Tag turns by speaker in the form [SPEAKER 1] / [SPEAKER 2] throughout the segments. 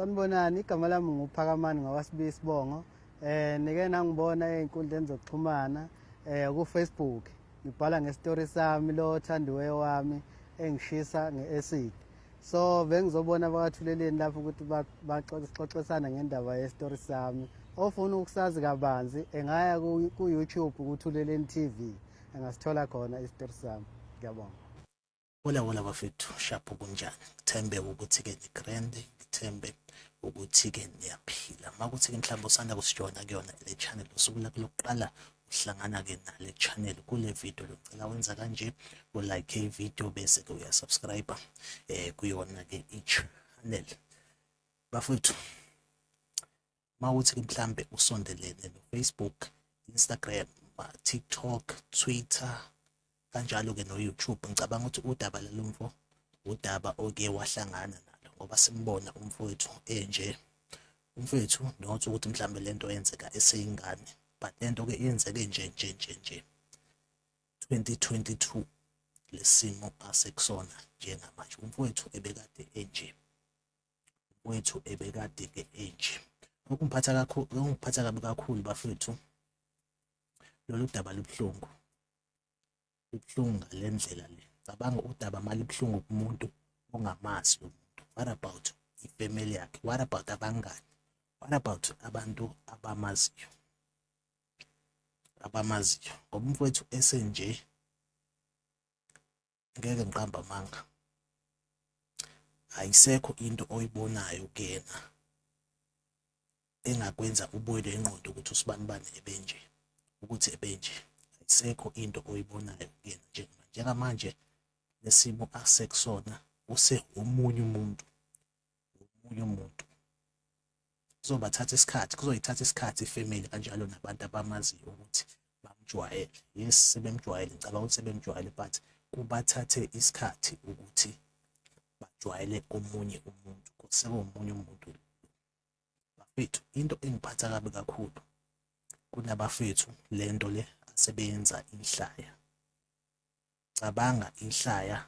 [SPEAKER 1] Sanibonani igama lami nguphakamani ngawasibiya isibongo eh nike nangibona ezinkundleni zokuxhumana eh ku Facebook ngibhala ngestory sami lo thandiweyo wami engishisa ngeacid so bengizobona abawathuleleni lapho ukuthi baxoxisana ngendaba yestory sami ofuna ukusazi kabanzi engaya ku YouTube kuthuleleni TV engasithola khona isitori sami ngiyabonga Hola hola
[SPEAKER 2] bafethu shapho kunjani ngithembe ukuthi ke ni grand ngithembe ukuthi ke niyaphila makuthi ke mhlawumbe usanda kusijoyina kuyona le channel usuku lakho lokuqala uhlangana ke nale channel kule video locela wenza kanje u like i video bese ke uya subscribe eh kuyona ke i channel bafethu uma ukuthi mhlambe usondelene no-facebook instagram tiktok twitter kanjalo-ke no-youtube ngicabanga ukuthi udaba lalo mfo udaba oke wahlangana nalo ngoba simbona umfowethu enje umfowethu not ukuthi mhlambe le nto yenzeka eseyingane but le nto-ke yenzeke nje nje nje nje 2022 lesimo asekusona njengamanje umfowethu ebekade enje wethu ebekade ke enje okungiphatha kakhulu okungiphatha kabi kakhulu bafethu lolu daba libuhlungu libuhlungu ngale ndlela le cabanga udaba malibuhlungu kumuntu ongamazi lo muntu what about ifamily yakhe what about abangani what about abantu abamaziyo abamaziyo ngoba umfowethu esenje ngeke ngiqamba amanga ayisekho into oyibonayo kuyena engakwenza ubuyele inqondo ukuthi usibani bani ebenje ukuthi ebenje ayisekho into oyibonayo kuyena njengamanje njengamanje lesimo asekusona useomunye umuntu womunye umuntu kuzobathatha isikhathi kuzoyithatha isikhathi ifamily kanjalo nabantu abamaziyo ukuthi bamjwayele yes sebemjwayele ngicabanga ukuthi sebemjwayele but kubathathe isikhathi ukuthi bajwayele omunye umuntu sekuwomunye umuntu bafethu into engiphatha kabi kakhulu kunabafethu lento le asebenza inhlaya cabanga ihlaya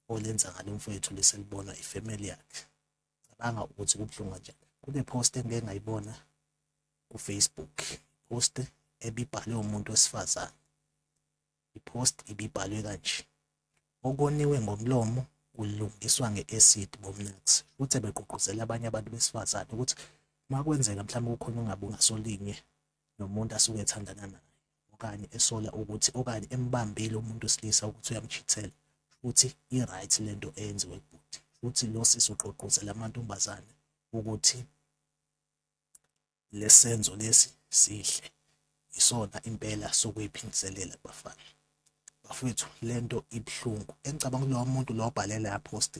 [SPEAKER 2] olenza ngalo mfowethu leselibona ifamily yakhe cabanga ukuthi kubuhlungu kanjani kune post engike ngayibona ku Facebook post ebibhalwe umuntu wesifazane ipost ibibhalwe kanje okoniwe ngomlomo kulungiswa nge-acid bomnax futhi begqugquzela abanye abantu besifazane ukuthi makwenzeka mhlawumbe kukhona ungabe ungasolinye nomuntu asuke ethandana naye okanye esola ukuthi okanye embambile umuntu wesilisa ukuthi uyamchithela futhi i-right le nto eyenziwe kubhuti futhi lo sisi ugqogqozela amantombazane ukuthi lesenzo lesi sihle isona impela sokuyiphindiselela kubafana bafethu le nto ibuhlungu engicabanga kulowo muntu lo obhalela ya post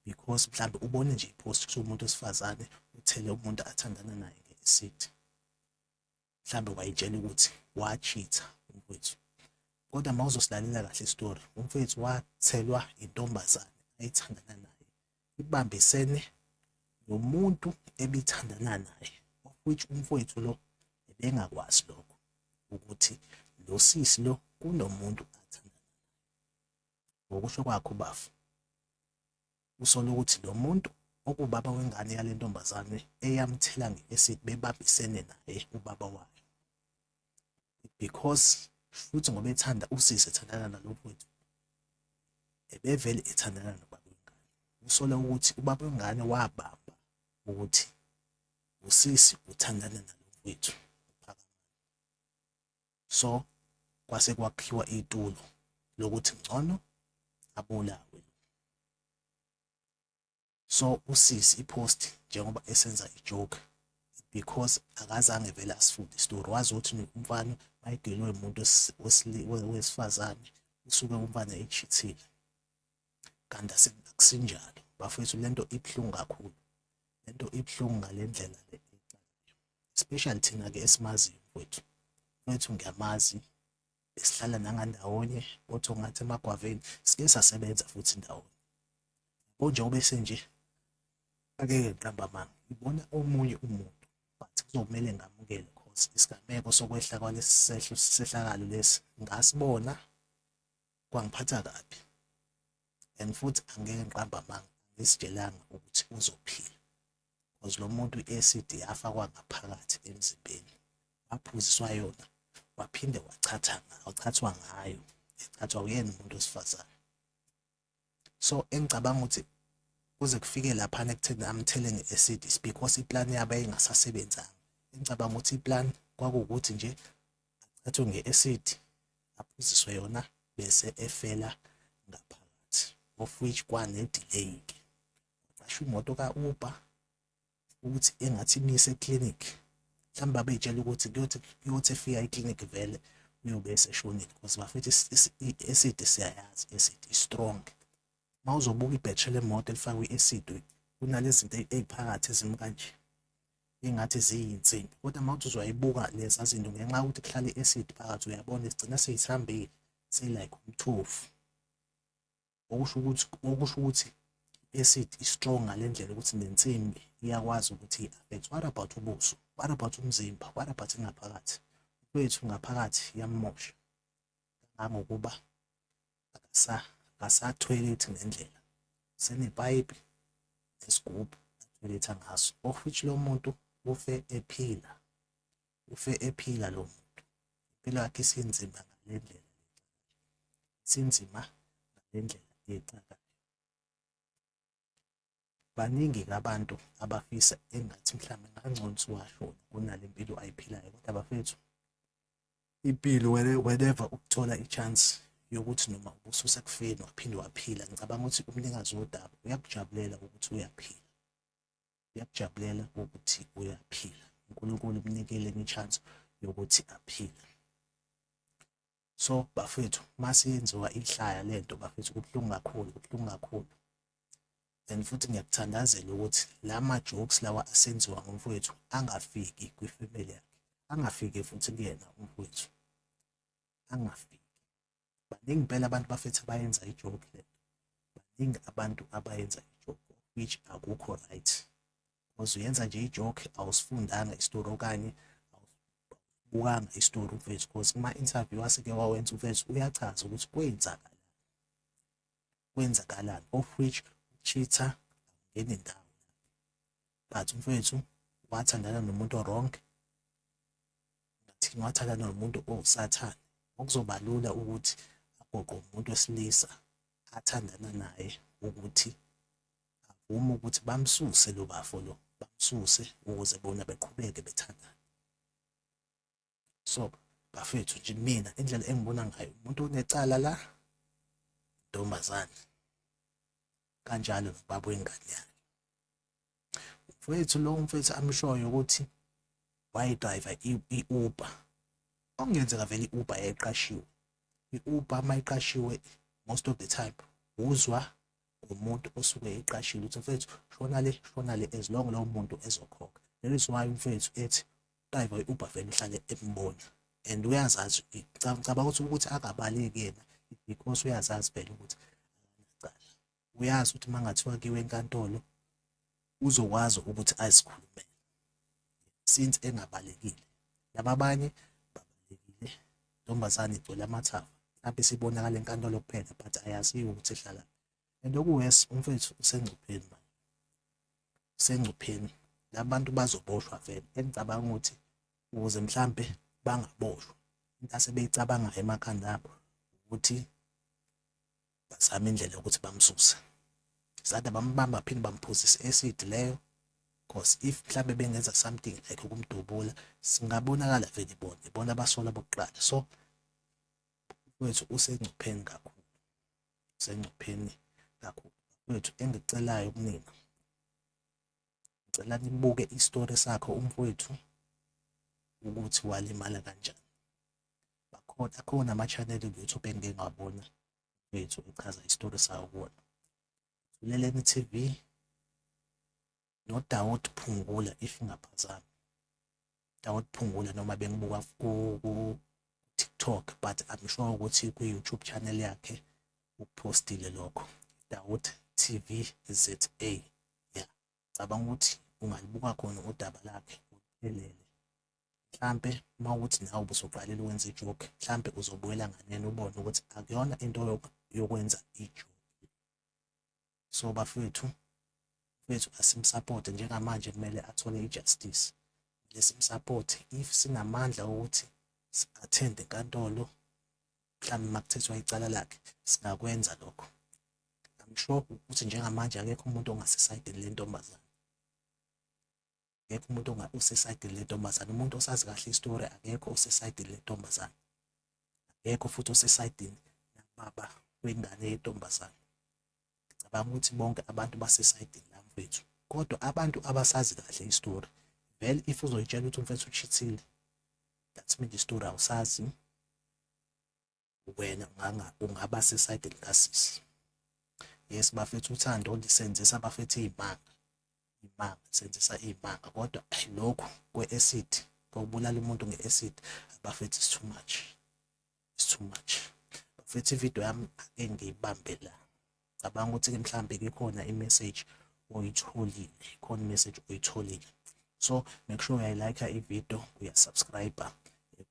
[SPEAKER 2] because mhlawumbe ubone nje i-post kusho umuntu wesifazane uthele umuntu athandana naye nge-acid mhlambe wayitshela ukuthi wachitha umfethu kodwa uma uzosilalela kahle isitori umfethu wathelwa intombazane ayithandana naye ibambisene nomuntu ebithandana naye of which umfowethu lo ebengakwazi lokho ukuthi lo sisi lo kunomuntu athandana naye ngokusho kwakho bafu usola ukuthi lo muntu okubaba wengane yale ntombazane eyamthela nge-acid bebambisene naye ubaba wayo because futhi ngoba ethanda usisi ethandana nalo mfowethu ebevele ethandana nobaba wengane usola ukuthi ubaba wengane wabamba ukuthi usisi uthandana nalo mfowethu so kwase kwakhiwa itulo lokuthi ngcono abulawe so usisi ipost njengoba esenza ijoke because akazange vele asifunde isitori wazi ukuthi umfana mayidelwe umuntu wesifazane usuke umfana echithile kanti akusinjalo bafethu lento ibuhlungu kakhulu lento ibuhlungu ngalendlela le especially thina ke esimaziyo mfethu mfethu ngiyamazi esihlala nangandawonye othi ngathi emagwaveni sike sasebenza futhi ndawonye konje obese nje akeke ngiqamba amanga ngibona omunye umuntu but kuzomele ngamukele cause isigameko sokwehla kwalesi sehlo sehlakalo lesi ngasibona kwangiphatha kabi and futhi angeke ngiqamba amanga ngisitshelanga ukuthi uzophila because lo muntu i-acid yafakwa ngaphakathi emzimbeni waphuziswa yona waphinde wachatha wachathwa ngayo echathwa uyena umuntu wesifazane so engicabanga ukuthi kuze kufike laphana ekutheni amthele nge-acid is because iplan yabo yayingasasebenzanga engicabanga ukuthi iplan kwakuwukuthi nje achathe nge-acid aphuziswe yona bese efela ngaphakathi of which kwane-delay-ke qasha imoto ka-uber ukuthi engathi imise eclinic mhlawumbe abeyitshela ukuthi kuyothi kuyothi efika eclinic vele uyobe eseshonile because bafethu i-acid siyayazi i-acid i-strong uma uzobuka ibhethri lemoto elifakwe i-acid kunalezinto eziphakathi ezimi kanje ingathi ziyinsimbi kodwa uma uthi uzoyibuka leza zinto ngenxa yokuthi kuhlale i-acid phakathi uyabona sigcina seyithambile seyilike umthofu okusho ukuthi okusho ukuthi i-acid i-strong ngale ndlela ukuthi nensimbi iyakwazi ukuthi i-affect what about ubuso what about umzimba what about ingaphakathi kwethu ngaphakathi yamosha kangangokuba akasa akasathwele ukuthi ngendlela senepayipi nesigubhu athweletha ngaso of which lo muntu ufe ephila ufe ephila lo muntu impilo yakhe isinzima ngale ndlela isinzima ngale ndlela exakayo baningi ke abantu abafisa engathi mhlawumbe ngangcono siwashona kunale mpilo ayiphilayo kodwa bafethu impilo whenever ukuthola i-chance yokuthi noma ubususa kufeni waphinde waphila ngicabanga ukuthi umnikazi wodaba uyakujabulela ukuthi uyaphila uyakujabulela ukuthi uyaphila unkulunkulu umnikele nge-chance yokuthi aphile so bafethu masiyenziwa ihlaya lento bafethu kubuhlungu kakhulu kubuhlungu kakhulu and futhi ngiyakuthandazela ukuthi la ma-jokes lawa asenziwa ngomfowethu angafiki kwifamily yakhe angafiki futhi kuyena umfowethu angafiki baningi impela abantu bafethu abayenza ijoke le baningi abantu abayenza ijoke which akukho right because uyenza nje ijoke awusifundanga isitori okanye awusibukanga isitori uvezi because kuma-interview asike wawenza uvezi uyachaza ukuthi kwenzakala kwenzakalani of which ucheater ngene ndawo but umfethu wathandana nomuntu owrong ngathini wathandana nomuntu owusathane okuzoba lula ukuthi agoqe umuntu wesilisa athandana naye ukuthi avuma ukuthi bamsuse lo bafo lo bamsuse ukuze bona beqhubeke bethandane so bafethu nje mina indlela engibona ngayo umuntu onecala la ntombazane kanjalo nobaba wengane yakhe mfowethu lo mfowethu amshoyo ukuthi wayidrayiva i-uber okungenzeka vele i-uber yayiqashiwe i-uber uma iqashiwe most of the time uzwa ngumuntu osuke eqashile ukuthi mfethu shona le shona le as long lowo muntu ezokhokha that is why umfethu ethi driver i-uber vele uhlale embona and uyazazi cabanga ukuthi ukuthi akabaleki yena because uyazazi phela ukuthi uyazi ukuthi uma ngathiwa kiwe enkantolo uzokwazi ukuthi azikhulumele since engabalekile laba abanye babalekile ntombazane igcwele amathava mhlawumbe sibonakala enkantolo kuphela but ayaziwa ukuthi ehlala and okuwesi umfethu usengcupheni manje usengcupheni labantu bazoboshwa vele engicabanga ukuthi ukuze mhlambe bangaboshwa into asebeyicabangayo emakhanda abo ukuthi bazama indlela yokuthi bamsuse sade bambamba phinde bamphuzise acid leyo because if mhlambe bengenza something like ukumdubula singabonakala vele bona ibona abasola bokuqala so wethu usengcupheni kakhulu usengcupheni kakhulu wethu engicelayo kunina ngicela nibuke isitori sakho umfowethu ukuthi walimala kanjani bakhona akhona ama-channel ku-youtube engike ngabona bethu echaza isitori sawo kuwona uleleni tv nodawot phungula if ngaphazami dawot phungula noma bengibuka ku-tiktok but i'm sure ukuthi kwi-youtube channel yakhe uphostile lokho dawot tv za ngicabanga ukuthi ungalibuka khona udaba lakhe elele mhlampe uma ukuthi nawe ubusuqalela ukwenza ijoke mhlampe uzobuyela nganene ubone ukuthi akuyona into yokwenza ijoke so bafethu bethu asimsupporte njengamanje kumele athole i-justice lesimsupporte if sinamandla okuthi si-attend enkantolo mhlawumbe uma kuthethwa icala lakhe singakwenza lokho I'm sure ukuthi njengamanje akekho umuntu ongasesayidini le ntombazane akekho umuntu osesayidini le ntombazane umuntu osazi kahle isitori akekho osesayidini le ntombazane akekho futhi osesayidini nababa wengane yentombazane ngicabanga ukuthi bonke abantu basesayidini la mfethu kodwa abantu abasazi kahle istory vele if uzoyitshela ukuthi umfethu uchithile that means istory awusazi wena ungaba sesayidini kasisi yes bafethu uthando lisenzisa abafethu iy'manga iy'manga lisenzisa iy'manga kodwa lokhu kwe-acid kokubulala umuntu nge-acid abafethu is too much it's too much bafethu ividiyo yami ake ngiyibambe la cabanga ukuthi-ke mhlawumbe kukhona i-message oyitholile khona i-message oyitholile so make sure uyayilayikha ividiyo uyasubscribe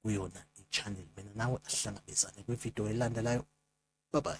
[SPEAKER 2] kuyona i-channel mina nawe asihlangabezane kwividiyo elandelayo bye bye